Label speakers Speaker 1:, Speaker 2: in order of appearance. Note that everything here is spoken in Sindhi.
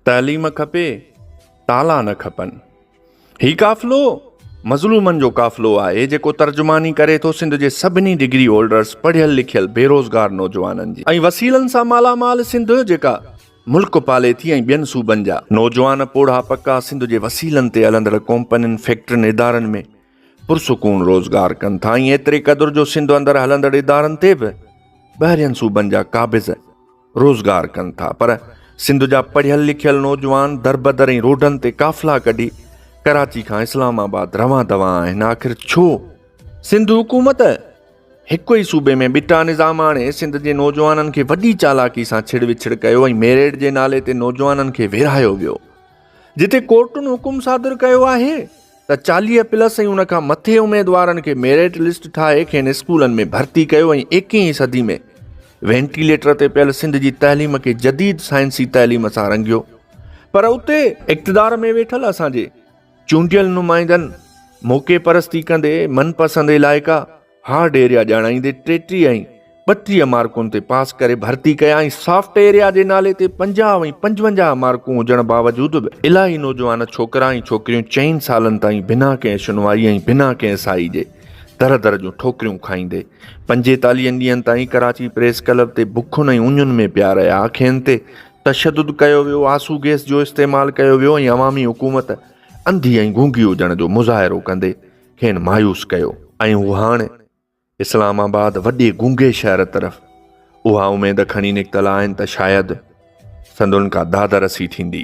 Speaker 1: تعليم کپي تالا نه کپن. هي قافلو مظلومن جو قافلو آهي جيڪو ترجماني ڪري ٿو سنڌ جي سڀني ڊگري هولڊرز پڙهيل لکيل بيروزگار نوجوانن جي ۽ وسيلن سان مالا مال سنڌ جيڪا ملڪ پالي ٿي ۽ ٻين صوبن جا نوجوان پوڙها پڪا سنڌ جي وسيلن تي هلندڙ ڪومپنين فيڪٽرين ادارن ۾ پرسڪون روزگار ڪن ٿا ۽ ايتري قدر جو سنڌ اندر هلندڙ ادارن تي به ٻاهرين صوبن جا قابض روزگار ڪن ٿا پر سنڌ جا پڙهيل لکيل نوجوان دربدر ۽ روڊن تي قافلا ڪڍي ڪراچي کان اسلام آباد روان دوان آهن آخر ڇو؟ سنڌ حڪومت هڪ ئي صوبي ۾ ٻٽا نظام آڻي سنڌ جي نوجوانن کي وڏي چالاڪي سان ڇڙ وڇڙ ڪيو ۽ ميريٽ جي نالي تي نوجوانن کي ويڙهايو ويو جتي ڪورٽن حڪم صادر ڪيو آهي ته چاليهه پلس ۽ ان کان مٿي اميدوارن کي ميرٽ لسٽ ٺاهي کين اسڪولن ۾ ڀرتي ڪيو ۽ ايڪيهين صدي ۾ وينٽيليٽر تي پيل سنڌ جي تعليم کي جديد سائنسي تعليم سان رنگيو پر اتي اقتدار ۾ ويٺل اسان جي چونڊيل نمائندن موقعي پرستي ڪندي من پسند علائقا هارڊ ايريا ڄاڻائيندي ٽيٽيهه ۽ ٻٽيهه مارڪن تي پاس ڪري ڀرتي ڪيا ۽ سافٽ ايريا جي نالي تي پنجاهه ۽ پنجونجاهه مارڪون هجڻ باوجود به الاهي نوجوان ڇوڪرا ۽ ڇوڪريون چئن سالن تائين بنا ڪنهن شنوائي ۽ بنا ڪنهن سائي جي در در جون ٺوڪريون کائيندي پنجيتاليهن ڏينهن تائين ڪراچي پريس ڪلب تي بکن ۽ اڃن ۾ پيا رهيا کين تي تشدد ڪيو ويو آسو گيس جو استعمال ڪيو ويو ۽ عوامي حڪومت انڌي ۽ گونگي هجڻ جو مظاهرو ڪندي کين مايوس ڪيو ۽ هو هاڻ اسلام آباد وڏي گونگي شهر طرف اها اميد کڻي نڪتل آهن ته شايد سندن ڪا داد رسي ٿيندي